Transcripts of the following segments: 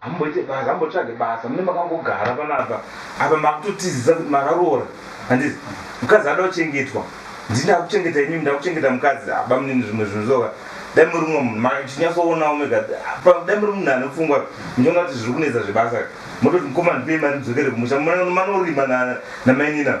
hamboite basa hambotsvage basa mune makangogara panapa apa makutotizisa kuti makaroora handizi mukadzi ada kuchengetwa ndii ndakuchengeta imimi ndakuchengeta mukadzi aba munini zvimwe zvinhu zvoka dai muri mumwe munhu machinyatsoonao mega dai muri munhu ane pfungwa muchiona kuti zviri kunetsa zvebasa mototi mukoma ndipei mari ndidzokere kumusha manorima namainina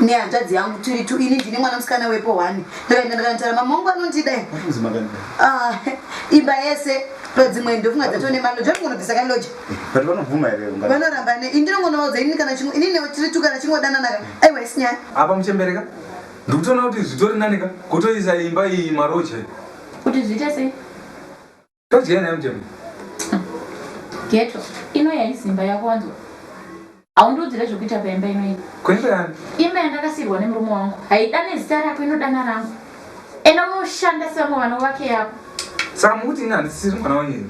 nehanzvadzi yangu tiri tu ini ndini mwana musikana wepo one ndakaenda ndakanotaura mama wangu anondida ah, imba yese padzimwe ndofunga dzato nemalo zvatingonobvisa kaloja vanoramba ne indinongonovaudza inini kana chimwe inini tiri tu kana chingodananaka aiwa isinyaya apa muchembereka ndikutoona kuti zvitori nanika kutoisa imba iyi maroja kuti zviite sei Todyai nayo mjm. Ghetto ino yaizimba yako wanzwa. Haundiudzire zvekuita paimba ino iyi. Kuimba yani? Imba yandakasirwa nemurume wangu. Haidane zita rako inodana rangu. Ena unoshanda sevamwe vana vake yako. Saka mukuti ini handisiri mwana wenyu here?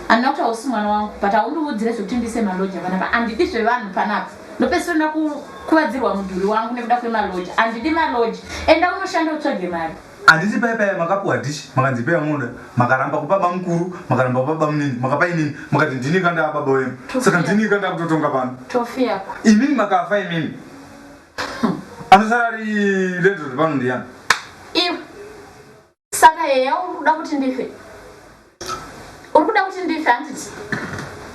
Handina kuti hausi mwana wangu but haundiudzire zvekuti ndiise maloja panapa. Handidi zvevanhu panapa. Ndopesiro ndakukuvadzirwa mudhuri wangu nekuda kwemaloja. Handidi maloja. Enda unoshanda utsvage mari. Handiti paya paya makapuwa dish makanzi ipai vamunoda makaramba kupa bamukuru makaramba kupa bamunini makapa inini mukati ndini ka ndava baba wemu saka ndini ka ndakutotonga pano imini makafa imini anosara ari landlord pano ndiyani saka heya uri kuda kuti ndife uri kuda kuti ndife handiti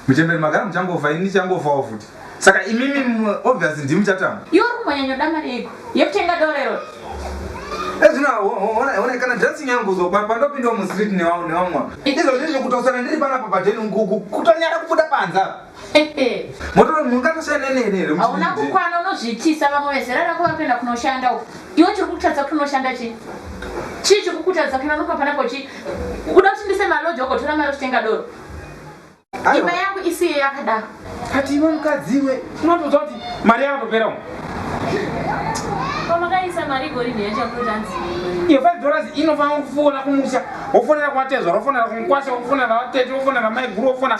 muchemberi magara muchangofa ini ndichangofawo futi saka imimi obvious ndimi muchatamba iyo uri kumbonyanyoda mari yeiko yekutenga dorero ezvino eh, one kana dressing yangu uzopa pandopindawo mustreet newamwa izvo ndizvo kutosana ndiri panapa padeni kutonyara kubuda panza motora munhu ungatoshanda neni here hauna kukwana unozviitisa vamwe vezera rako vari kuenda kunoshanda uko iwe chiri kukutadza kuti unoshanda chii chii chiri kukutadza kuti vanokupa panako chii uda kuti ndise maloji ogotora mari kutenga doro imba yangu isiye yakadaro kati iwe mukadzi iwe unotoudza kuti mari yakatopera umu pamakaisa mari igorini yachakutanzi iyo five dollars inofanira kufuona kumusha wofonera kuvatezvara wofonera kumukwasha wofonera vatete wofonera maiguru wofona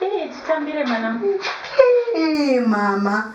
Hey, chitambire mwana. Hey, mama.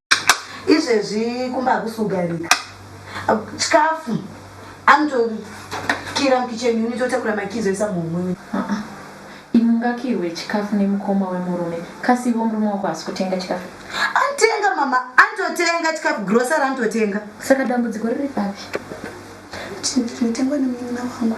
izvezvi kumba hakusugarika chikafu anotokira mukicheni unitotakura makizo isa muhumwe imungakirwe chikafu nemukoma wemurume kasi ivo murume wako hasi kutenga chikafu anotenga mama anototenga chikafu grosari anototenga saka dambudziko riri papi chinhu chinotengwa nemununa wangu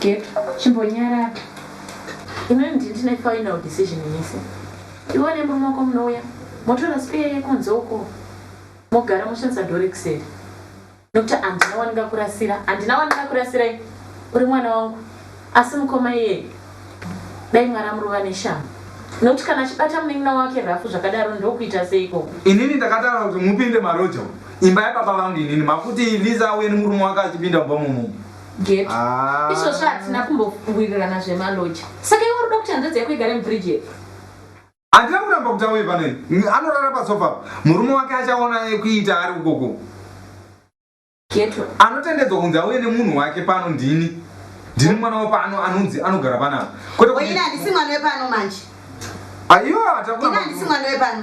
Gap chimbonyarara imimi ndine final decision mese iwe nemurume wako munouya motora spare yekunze uko mogara moshandisa door rekuseri nokuti handina wandingakurasira handina wandingakurasirai uri mwana wangu asi mukoma iyeye dai mwari amurova neshamhu nokuti kana achibata munin'ina wake rafu zvakadaro ndokuita seiko inini ndakataura kuti mupinde maroja umu imba yababa vangu inini makuti liza auye nemurume wake achipinda mumba momumu geto ah. izvozvo hatina kumbofungurirana zvemaloji saka iwe unoda kuti hanzvadzi yako igare mubridge yepo handina kuramba kuti auye pano anorara pasofa murume wake achaona kuita ari ukoko geto anotendedzwa kunzi auye nemunhu wake pano ndini ndini mwana wepano anonzi anogara panapa kweteoina handisi mwana wepano manje aiwa handisi mwana wepano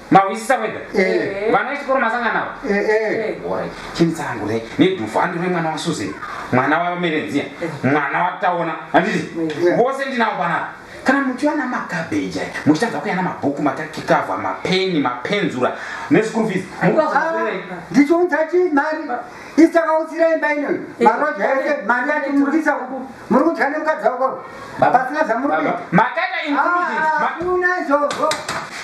mahwisisa wega Eh. vana vechikoro masangana navo Eh, eh. Alright, chini tsangu re nedhufu handi remwana wasuzen mwana wamerenziya mwana wataona handiti vose ndinavo panapa kana muchiwana makabheji aya muchitadza kuyana mabhuku matakikavha mapeni mapenzura neschool fees mukazoerei ndichiunza chii mari Isi takaudzira imba ino maroja ese mari yati murikisa uku muri kudya nemukadzi wako pasina zvamuri kuita. Makaita included. Ah, Ma- Hakuna izvozvo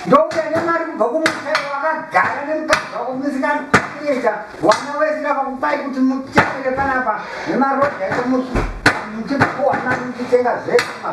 ndouya nemari kubva kumusha wakagara nemukadzi wako musikana kuita wana wese ndakakupai kuti muchapere panapa nemaroja ese muchi- muchikuwana muchitenga zvese ma-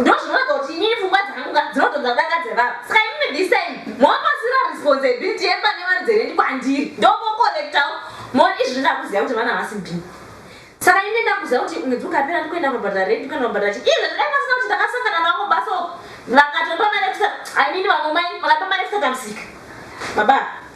ndozvinoratidza kuti inini pfungwa dzangu ka dzinotonza kudanga dzevava saka imimi this time mopasira responsibility yepane mari dzerendi kwandiri ndomokorektawo moni izvi zvindakuziva kuti vana havasi bini saka ini ndakuziva kuti mwedzi ukapera ndikuenda kunobhadhara rendi kuenda kunobhadhara chii izvo zvidai pasina kuti ndakasangana navo baso vakatopa mari yekusa imini vamwe mai vakapa mari yekusatamsika baba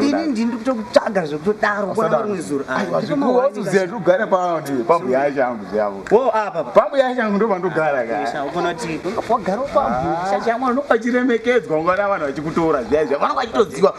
ini ndini ndikutokutsvaga zvekutodaro kwarimwe zuro aiwazoziva zvekugara pambuya yacho yangu zvavo wo apa pambuya yacho yangu ndopandogara kaofanoti wagara pambuya chacho yangu unopachiremekedzwa ungana vanhu vachikutora zviya zviya vanenge vachitoziva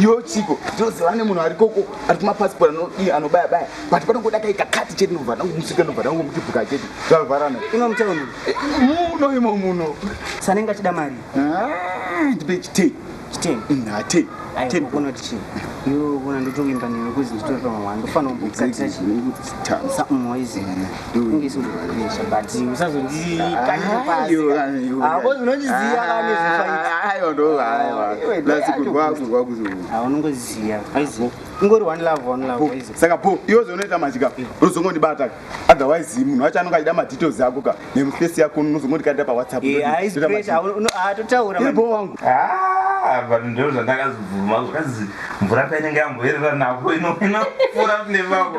yo chiko ndinoziva ne munhu arikoko ari kumapasipoti anodii anobaya baya but panongoda kaita kati chete ndobva ndangomusika ndobva ndangomutibhuka chete zvavharana ino mutauni eh, muno imo muno sanenge achida mari ah, ndipe chitei chitei mm, hatei aonoti chii yo ona ndotovimba newe kuzi nditori pamamwana ndofanira kumbokatira chii moizi saka po iwe zvonoita machika unozongondibata otherwise munhu wacho anonga achida madetails ako ka nemufesi yako unozongondikadira pawhatsappo wangu but ndo zvandakazobvuma zvazi mvura painenge yamboerera napo inofura nevavo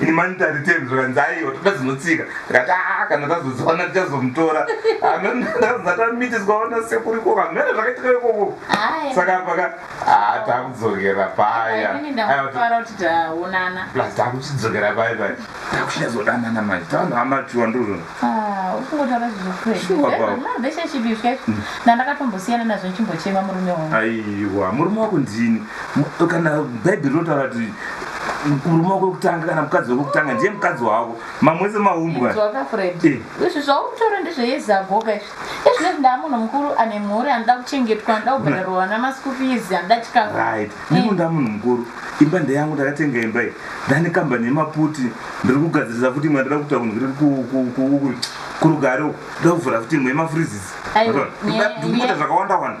in monetary terms zvikanzi aiwa toda dzinotsika ndikati aa ah, kana tazodziwana tichazomutora amzatamitiswaona sekuriko kamene zvakaitika ikoko saka paka aa ah, takudzokera paya takuchidzokera paya paya takuchinyazodanana manje taanoamatiwa ndozvona Ah, ukungotaura zvizokurei Sure, Dai baba. mama veshe chipi zve ndandakatombosiyana nazvo ndichimbochema murume wangu aiwa murume wako ndini Mu- kana bhaibheri rinotaura kuti murume wako wekutanga kana mukadzi wako wekutanga ndiye mukadzi wako mamwese maumbwa Inzwaka fred Eh. izvi zvauri kutaura ndezveyezagoka izvi Ezvinezvi ndaamunhu mukuru ane mhuri anoda kuchengetwa anoda kubhadharwa vana maschool fees anoda chikafu. Right. Nemu eh. ndaamunhu mukuru. Imba ndeyangu ndakatenga imba iyi. Ndane kambani yemaputi ndiri kugadzirisa futi imwe ndira kuta kunhu kuri kurugare uku. Ndoda kuvhura futi imwe yemafreezes. Ndikuita zvakawanda wanda.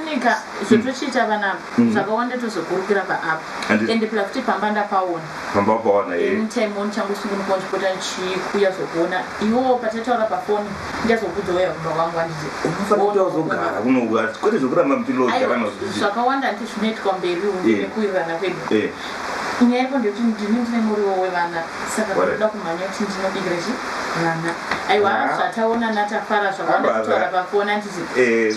nyika zvotochiita vana mm. zvakawanda tozokurukira paapa ende pla kuti pamba ndapaona pamba paona eh. anytime on changu sungunuka ndichipota ndichikuya zvokuona iwo pataitaura pafoni ndazokudzoya kumba kwangu andiziunofanotauzogara kunoua kwete zvokuramba mpilogarana zvakawanda ndi zvinoitwa mberi umu eh. nekuwirirana kwedu eh. nyaya iko ndekuti ndini ndine muriwo wevana saka ndoda kumhanya kuti ndinobikira chi vana aiwa ah. zvataona natafara zvakawanda kutaura pafoni andizi